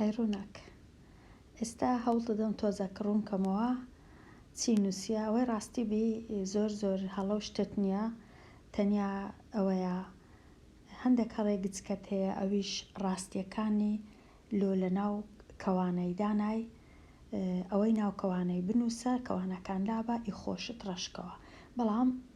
هەی ڕووناک. ئێستا هەوڵ دەدەم تۆزەک ڕوون کەمەوە چی نووسیە ئەوەی ڕاستی بی زۆر زۆر هەڵە و شتت نییە تەنیا ئەوەیە هەندێک هەڵەی گچکەت هەیە ئەویش ڕاستیەکانی لۆ لە ناو کەوانەی دانای ئەوەی ناو کەوانەی بنووسە کەوانەکان لابە ئی خۆشت ڕەشکەوە بەڵام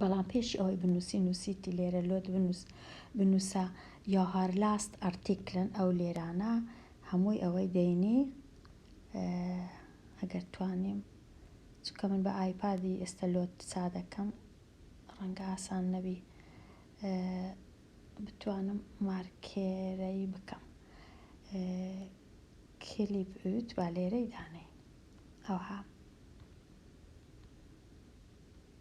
بەڵام پێش ئەوەی بنووسی نووسیتی لێرە لۆت بنووس بنووسە یا هار لاست ئەرتیکلن ئەو لێرانە هەمووی ئەوەی دەینی ئەگەر توانیم چکە من بە ئایپادی ئێستا لۆت چا دەکەم ڕەنگە ئاسان نەبی بتوانم مارکێرەی بکەم کلیپ ئوت با لێرەی دانێ ئەوها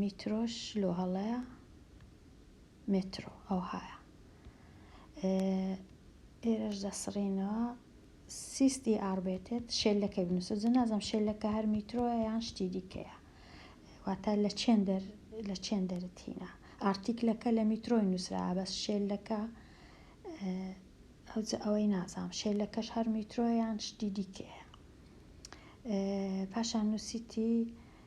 میترۆش لۆ هەڵەیە مێترۆ ئەوهایە ئێرەش دەسڕینەوە سیستی ئاڕبێتێت شێلەکە بنووسە جە نازم شێلەکە هەر میترۆە یان شتی دیکەیە واتە لە چێن دەر لە چێن دەرتینە ئارتیکلەکە لە میترۆی نووسرا بەس شێلەکە ئەوجە ئەوەی نازام شێلەکەش هەر میترۆیان شتی دیکەیە پاشان نووسیتی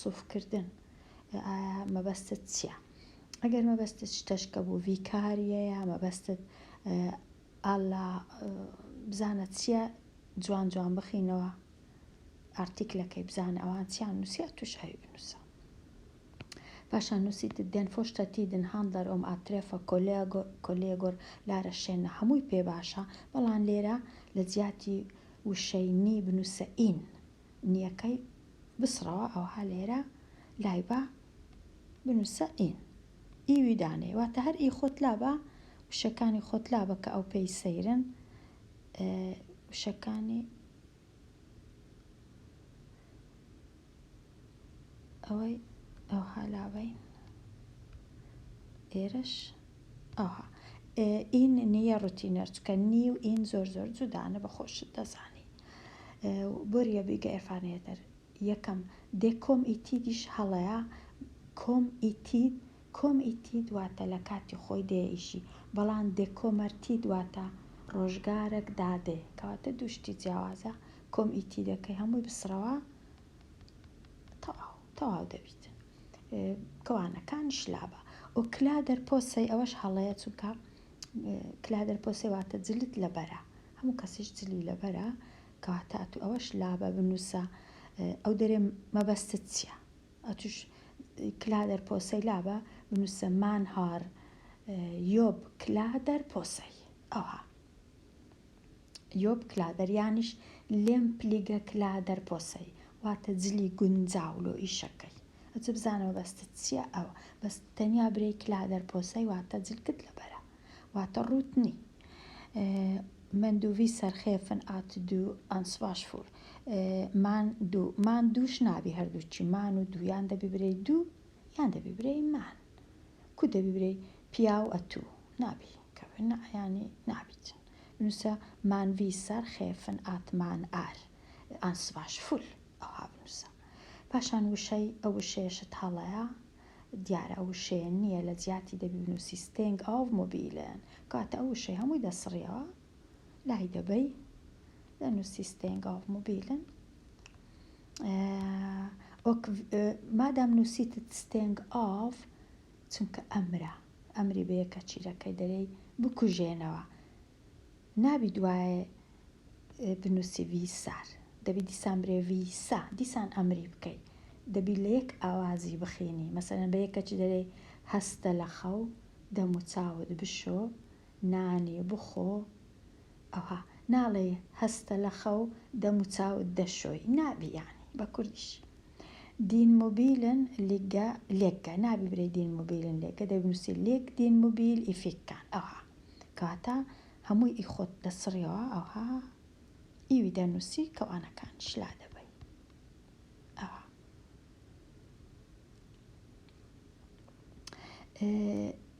سوف کردن ئایا مەبەستت چیە ئەگەر مەبەستت شتەشکە بو ڤی کار یە یا مەبەستت ئە اللە بزانە چیە جوان جوان بخینەوە ئارتیکلەکەی بزانە ئەوان چیان نوسیە توش ئەوی بنوسە پاشان نوسیتت دێن فۆشتە تیدن هاندەر ئۆم ئاترێفە کۆلێگۆ کۆلێگۆر لارە شێنە هەموی پێ باشە بەڵان لێرە لە جیاتی وشەی نی بنوسە ئین. نیەکەی بسڕەوە ئەوها لێرە لایبە بنوسە ئین ئی وی دانێ واتە هەر ئی خۆت لابە وشەکانی خۆت لابە کە ئەو پێی سەیرن وشەکانی ئەوەی ئەوها لابین ئێرەش ئەوها ئین نیە ڕوتینەر چکە نی و ئین زۆر زۆر جودانە بە خۆشت دەزانی بۆریە بیگە ئێفانێتر یەکەم دێ کۆم ئیتیدیش هەڵەیە کۆم ئیتید کۆم ئیتید واتە لە کاتی خۆی دێ ئیشی بەڵام دێ کۆمەرتید واتە ڕۆژگارەک دادێ کەواتە دوو شتی جیاوازە کۆم ئیتیدەکەی هەمووی بسڕەوە تەواو تەواو دەبیت کەوانەکان شلابە ئۆکلا دەرپۆسەی ئەوەش هەڵەیە چونکە کلادر پۆسێ واتە جلت لەبەرە هەموو کەسیش جلی لەبەرە کەواتە ئەتوو ئەوەش لابە بنووسە ئەو دەرێ مەبەستت چییە ئەتوش کلادر پۆسەی لابە بنووسە مان هار یۆب کلادر پۆسەی ئەوها یۆپ کلادەر یانیش لێم پلیگە کلادەر پۆسەی واتە جلی گونجاو لۆ ئیشەکەی ئەجە بزانە مەبەستت چیە ئەوە بەس تەنیا برێی کلادەر پۆسەی واتە جلکت لەبەرە واتە ڕووت نی مەندووی سەرخێفن ئات دوو ئەنسباش فور مان دوو مان دووش نابی هەردووچی مان و دوو یان دەبی برێی دوو یان دەبی برێی مان کو دەبی برێی پیاو ئەتوو نابی کەوێ نەعیانی نابیت بنووسە مان ویسار خێفن ئات مان ئار ئان سڤاش فول ئەوها بنووسە پاشان وشەی ئە وشەیەشت هەڵەیە دیارە ئە وشەیە نییە لە جیاتی دەبی بنووسی ستێنگ ئاڤ مۆبیلن کاتە ئە وشەی هەمووی دەسڕیەوە لای دەبەی دەنووسی ستێنگ ئاڤ مۆبیلن ئۆک مادام نووسیتت ستێنگ ئاڤ چونکە ئەمرە ئەمری بە یەکە چیرەکەی دەرێی بکوژێنەوە نابی دوایێ بنوسی ویسار دەبی دیسان برێ ویسا دیسان ئەمری بکەی دەبی لە یەک ئاوازی بخینی مەسەلەن بە یەکەچی دەرێی هەستە لە خەو دەموچاوت بشۆ نانی بخۆ ئەوە ناڵێی هەستە لە خەو دەم و چاوت دەشۆی نابی یانی بە کوردیش دین موبیلن لیگە لێکگە نابی برێ دین موبیلن لێکگە دەبنووسی لێک دین موبیل ئیفیککان ئەوها کەواتە هەمووی ئی خۆت دەسڕیەوە ئەوها ئیوی دەنووسی کەوانەکانیش لا دەبەی ئەوها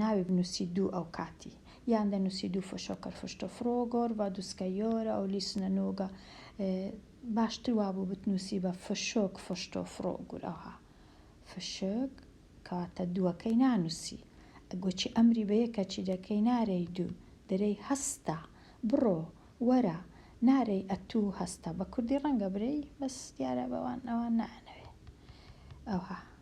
ناوی بنووسی دوو ئەوکاتی یان دەنووسی دوو فشۆ کەر فشتۆ فرۆ گۆر ڤە دوسکە یۆرە ئەو لیسنە نووگە باشتر وابوو بتنووسی بە فشۆک فشتۆ فرۆ گور ئەوها فشک کەواتە دووەکەی نانووسی گۆچی ئەمری بە یەکەچی دەکەی نارێی دوو دەرێی هەستە بڕۆ وەرە نارێی ئەتوو هەستە بە کوردی ڕەنگە برێی بەس دیارە بەوان ئەوان نایانەوێ ئەوها.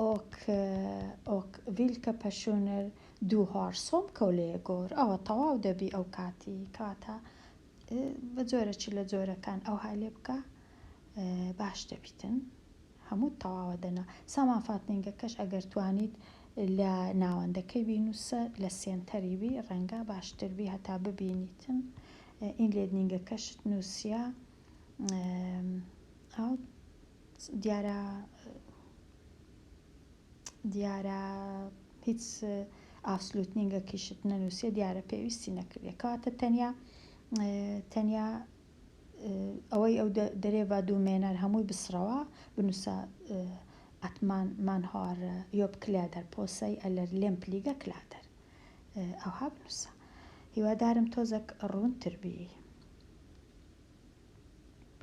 ئۆک ئۆک ڤیلکە پەشونر دوو هار سۆم کەولەیە گۆر ئەوە تەواو دەبی ئەو کاتی کاتە بە جۆرە چ لە جۆرەکان ئەو های لێ بکە باش دەبیتن هەموو تەواوە دەنا سامان فاتنینگەکەش ئەگەر توانیت لە ناوەندەکەی بینوسە لە سێنتەری بی ڕەنگە باشتر بی هەتا ببینیتن ئین لێدنینگەکەشت نووسە دیارە دیارە هیچ ئاسلوتنینگەکیشت نەنووسێ دیارە پێویستی نەکردێ کاتە تەنیا تەنیا ئەوەی ئەو دەرێ بە دوو مێنەر هەمووی بسڕەوە بنووسە ئەتمان من هار یۆب کلیا دەر پۆسەی ئەلەر لێم پلیگە کلا دەر ئەوها بنووسە هیوادارم تۆزەک ڕوونتر بی